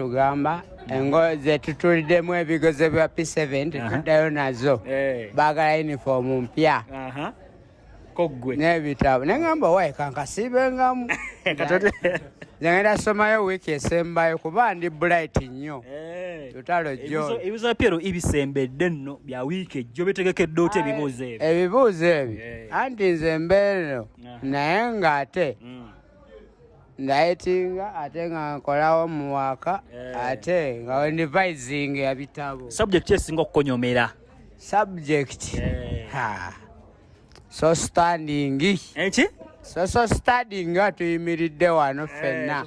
tugamba engo zetutuliddemu ebigezo bya p7 tetuddayo nazo eh. bagala yunifoomu mpya koggwe n'ebitabo neŋamba waye kankasiibengamu nagenda somayo wiiki esembayo kuba ndi bright nnyo eh. tutalo jo ebibuzo pyero ibisembedde nno bya wiiki ejjo bitegekedde otya ebibuuzo ebyo ebibuuzo ebyo eh. anti nze mbeereno naye ng'ate mm. ndayitinga ate nga nkolawo mu waka eh. ate nga wendivising ebitabo subject esinga okukonyomera subject eh. ha so standing enki so so standing nga tuyimiridde wano eh, fenna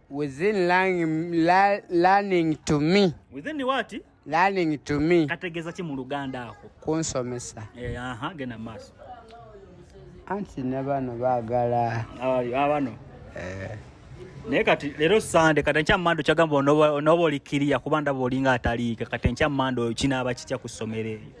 Within learning, learning to me. Within what? Learning to me. Kategeza ki mu Luganda ako? Kunsomesa. Eh, aha, gena maso. Anti ne bano bagala. Abali abano. Eh. Naye kati lero Sande kati nkya mando kyagamba onoba onoba olikiriya kuba ndaba olinga ataliika kati nkya mando kinaaba kitya ku ssomero eyo.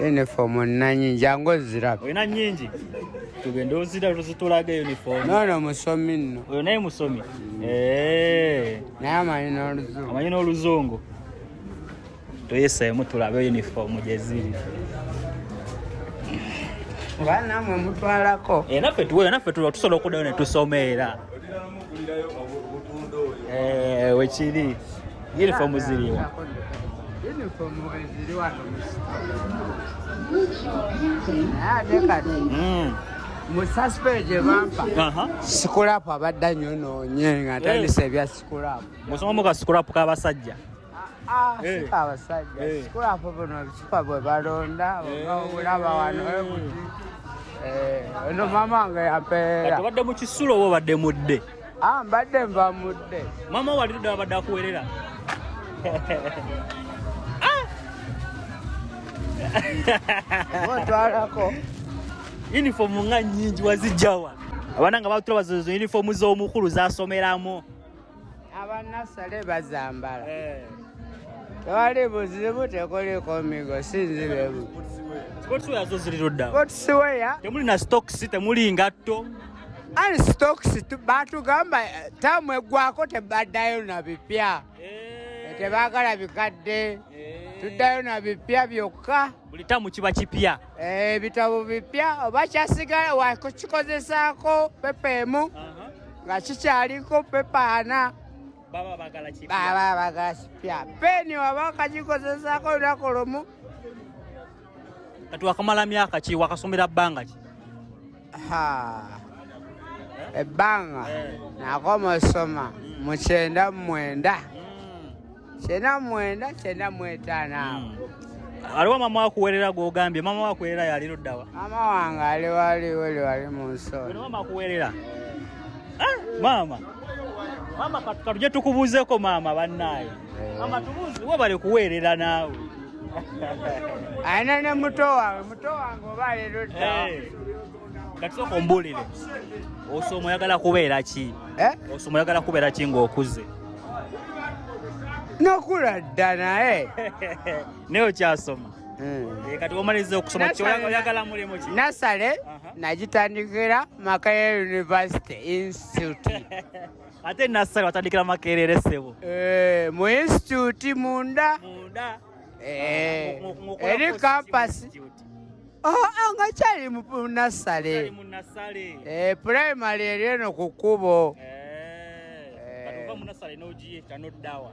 uniform olina nyingi jangu oziraba olina nyingi tugende ozira tuzitulaga uniform nono musomi nno oyo naye musomi eh. naye amanyi n'oluzungu amanyi n'oluzungu tuyiseemu tulabe uniform gyeziri oba namwe mutwalako eh, naffe tusobola okudayo netusoma era Eh, wekiri uniform ziriwa musaspeje bampa sikulapu abadda nyo noonye nga atandisa ebya sikulapu musoma mu ka sikulapu k'abasajja Ah, eh. sika abasajja eh. sikulapo buno bisupa bwe balonda obulaba eh. wano ekuti ono mama nga yapeera obadde mu kisulo oba obadde mudde ah, mbadde nva mudde mama wali tudde abadde akuwerera ah! otwalako yunifoomu nga nyingi wazijjawa abaana nga batula bazozo yunifoomu z'omukulu zasomeramu abanasale bazambala eh. tewali buzibu tekoliko migo sinzibebu sportswear temuli na stocks temuli ngatto ani stocks batugamba eh, tamu eggwako tebaddayo na bipya eh. tebagala bikadde tuddayo na bipya byokka buli tamu kiba kipya ebitabo eh, bipya oba kyasigala wakukikozesaako pepa emu nga kikyaliko pepa ana baba bagala kipya peni waba wakagikozesaako olunaku lumu kati wakamala myaka ki wakasomera bbanga ki ebbanga nakoma osoma mu kyenda mumwenda kyenda mumwenda kyenda mwetaano awo hmm. aliwo mama wakuwerera gwogambye mama wakuwerera yali luddawa mama wange ali waliwo liwali mu nsonda mama akuwerera ah, mama mama katuje tukubuuzeko maama bannaayo webale kuweerera naawe alina ne muto wange muto wange oba leero dda eh. katusooka ombulire osoma oyagala kubeera ki eh? osoma oyagala kubeera ki ng'okuze nokula dda naye naye okyasoma hmm. eh, kati omaliza okusoma kyoyagala mulimu ki nasale nagitandikira makaya university institute ate nassali watandikira makerere sebo eh, mu institute munda munda eh, eri kampasi oh, ah, nga kyali munassale eh, primary eri eno ku kkubo munasale n'ogiye tanoddawa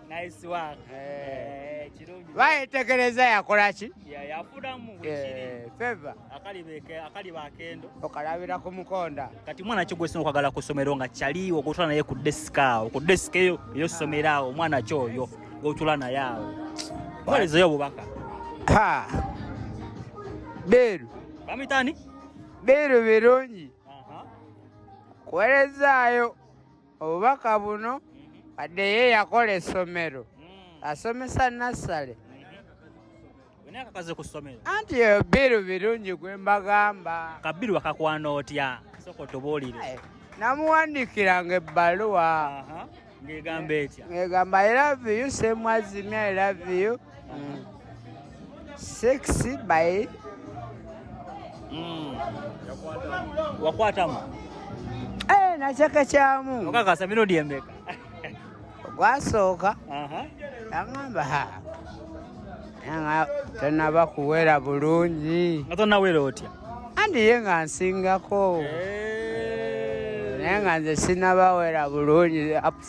Nice work. Eh. Eh, kirungi. Bae tekereza yakola ki? Ya yafuna mu wikiri. Eh, favor. Akali beke, akali bakendo. Okalabira ku mukonda. Kati mwana kyo gwesino kwagala kusomero nga chali okutula naye ku desk awo. Ku desk yo yo somera awo mwana kyo yo. Gotula na yawo. Wale zoyo bubaka. Ha. Beru. Bamitani? Beru berungi. Aha. Kuelezaayo obubaka buno wadde ye yakola essomero hmm. asomesa nassale anti eyo biru birungi gwe mbagamba kabiru wakakwana otya soka otubuulire namuwandiikiranga ebbaluwa ng'egamba etya ng'egamba i love you same as me i love you mm. sex by mm. wakwatamu hey, eh, nachaka kyamu okakasa mirudi embeka gwasooka agamba ha nga tonaba kuwera bulungi nga tonawera otya andi ye nga nsingako eh. naye nga nze sinabawera bulungi ups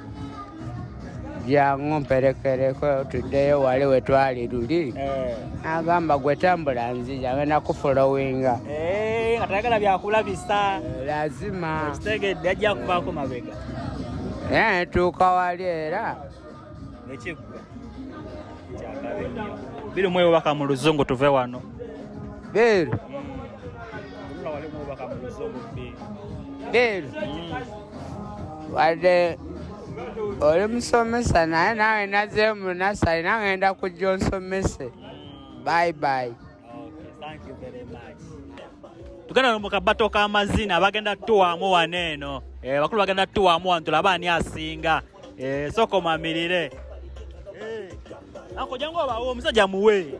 byangu mperekereko tuddeyo wali we twali luli eh. agamba gwe tambula nzija ngenda kufolowinga eh, nga tayagala byakulabisa eh, lazima kitegedde ajja kuvaako mabega naye tuuka wali era nekiggwa biri mwe obubaka mu luzungu tuve wano biri biri wadde oli musomesa naye nawe nazeemu nasali nangenda kujja onsomese bye bye tugenda no mukabato k'amazina bagenda tuwamu wano eno eh, bakulu bagenda tuwamu wano tulaba ani asinga eh, sokomamirire eh, akojangu obawo omusajja muwe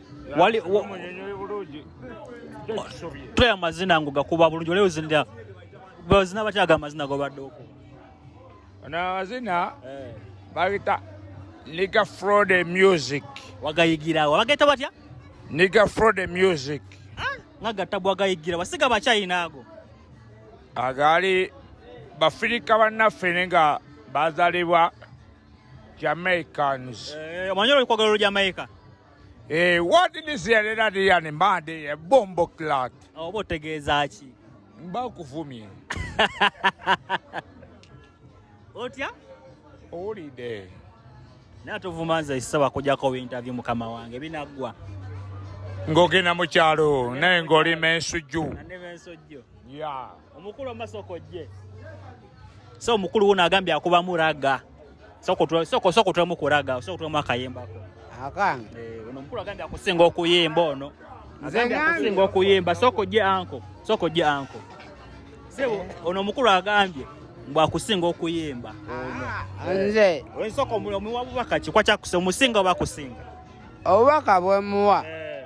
wali tulaba amazina ngo gakuba bulungi oleo zinda bazina batya ga amazina gobadde okuba ono amazina eh. bagita niga frode music wagayigirawo bagayita batya niga frode music ah, nga gattabu wagayigira wasiga bakyayina ago agaali bafirika bannaffe ne nga bazalibwa jamaicans eh, omanyi olwokwagala olujamaica Eh, what did you say earlier the other man the bomb clot? Oh, what tegeza ki? Mba kuvumye. Otya? Oli de. Na tuvumanza isawa kuja ko interview mukama wange binagwa. Ngogena mu kyalo naye ngoli mensuju. Nane mensuju. Yeah. Omukulu amasoko je. So omukulu wona agambye akuba muraga. soko soko soko tulamu kuraga soko tulamu akayemba ko akange eh ono mkulu agambye akusinga okuyemba ono agambye akusinga okuyemba soko je anko soko je anko sebo ono mkulu agambye mbu akusinga okuyemba ono ah, nze eh, soko mulo muwa bubaka kikwa kyakusinga omusinga obakusinga obubaka bwemuwa eh.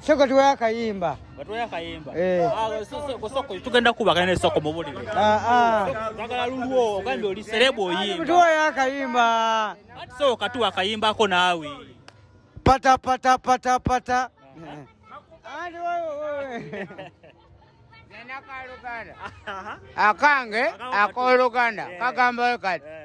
Soko eh. tuwe akayimba. Batuwe akayimba. Eh. Ah, soko soko tugenda kuba kana soko mubuli. Ah ah. Bagala lulwo ogambe oli celeb oyimba. Tuwe akayimba. Soko katuwa akayimba ko nawe. Pata pata pata pata. Andi wewe wewe. Nena kaluganda. Akange akoluganda kagamba kati. Eh.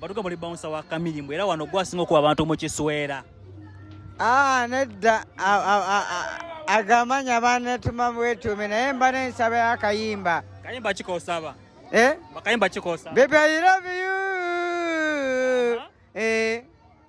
batuga muli bouncer wa kamili mbwera wano gwasinga okuba abantu mu kiswera ah nedda agamanya banetuma bwetume naye mba nensaba yakayimba kayimba kikosaba eh bakayimba kikosaba baby i love you uh -huh. eh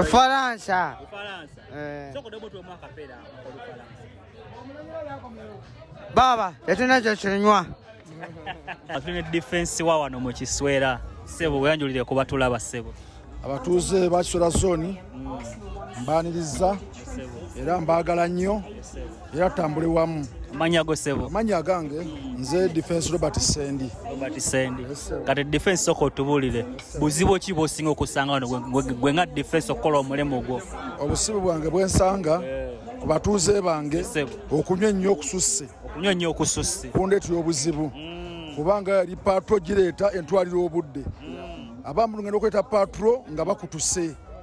Ufaransa. Ufaransa. Eh. Soko debo tu mwaka pera kwa Ufaransa. Baba, yatuna cha chinywa. Atune defense wa wano mu kiswera. Sebo weyanjulire kuba tulaba sebo. Abatuuze ba Kiswera zone mm. mbaniriza era mbaagala nnyo era tutambule wamu amanya go sebo amanya agange nze defense robert sendi robert sendi yes, kati defense soko tubulire yes, buzibu ki bosinga okusanga wano gwe nga defense okola omulemo gwo obusibu bwange bwensanga yeah. ku batuuze bange yes, okunywa ennyo okususse okunywa ennyo okususse kundeetera obuzibu mm. kubanga yali patro gireeta entwalira obudde mm. abamu ngenda okuleeta patro nga bakutuse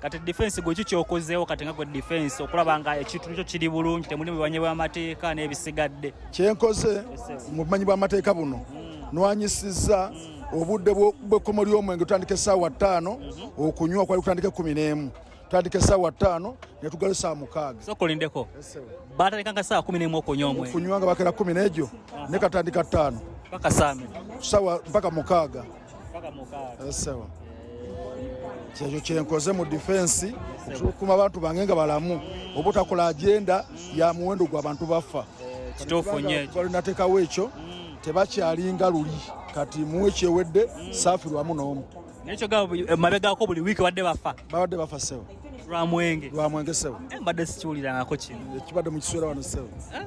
kati defense gwe kikyokozeewo kati nga gwe defense okulaba nga ekintu kyo kiri bulungi temuli mubumanyi bw'amateeka n'ebisigadde kyenkoze mu bumanyi bw'amateeka buno nwanyisizza obudde bw'ekkomo ly'omwenge tutandika essaawa ttaano okunywa kwali kutandika ekkumi n'emu tutandika essaawa ttaano ne tugala essaawa mukaaga sokolindeko baatandika nga ssaawa kumi n'emu okunywa omwenge okunywa nga bakera kumi n'egyo ne katandika ttaano mpaka mukaaga eh, sawa kyekyo kyenkoze mu difensi okukuma abantu bange nga balamu obutakola agenda ya muwendo gwa bantu baffa kituufunybalinateekawo ekyo mm. tebakyalinga luli kati muwe kyewedde mm. saafirwamu n'omu eh, mabegako buli wiiki badde bafa babadde bafa sewo lwamwenge lwamwenge sewo eh, mbadde sikiwulirangako kino ekibadde mu kiseera wano sewo eh?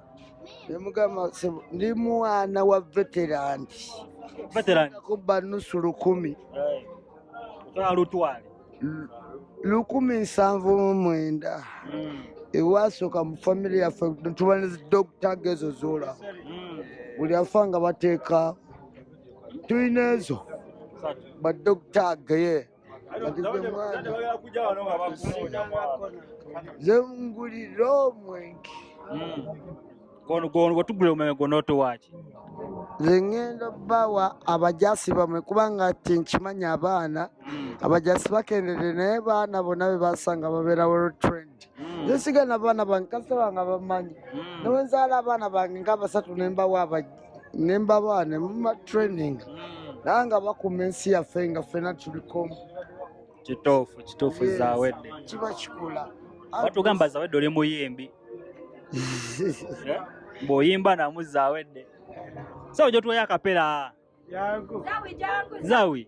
nemugamba sebo ndi mwana wa veteran Veteran. kubba nusu lukumi Otwala lutwale. Lu- lukumi nsanvu mu mwenda Mm. ewasooka mu famire yaffe tuba ne dokita gezo zola Mm. buli afa nga bateeka tulina ezo Satu. badokita geye nze ngulira omwenge gwetugula omwenge gwonotowaaki nze ngenda bawa abajasi bamwe kubanga ti nkimanyi abaana hmm. abajasi bakendede naye baana bona bebasanga babera world trend hmm. nze sigana baana bange kasita bange bamanyi hmm. newenzaala abaana bange nga abasatu nembawa abajja ne mbaba ne muma training naye nga bakuuma ensi yaffe nga ffena tulikomu kituufu kituufu zawedde kiba kikula batugamba zawedde oli muyimbi eh? bw'oyimba namu zawedde sawo gyotwayo akapera zawi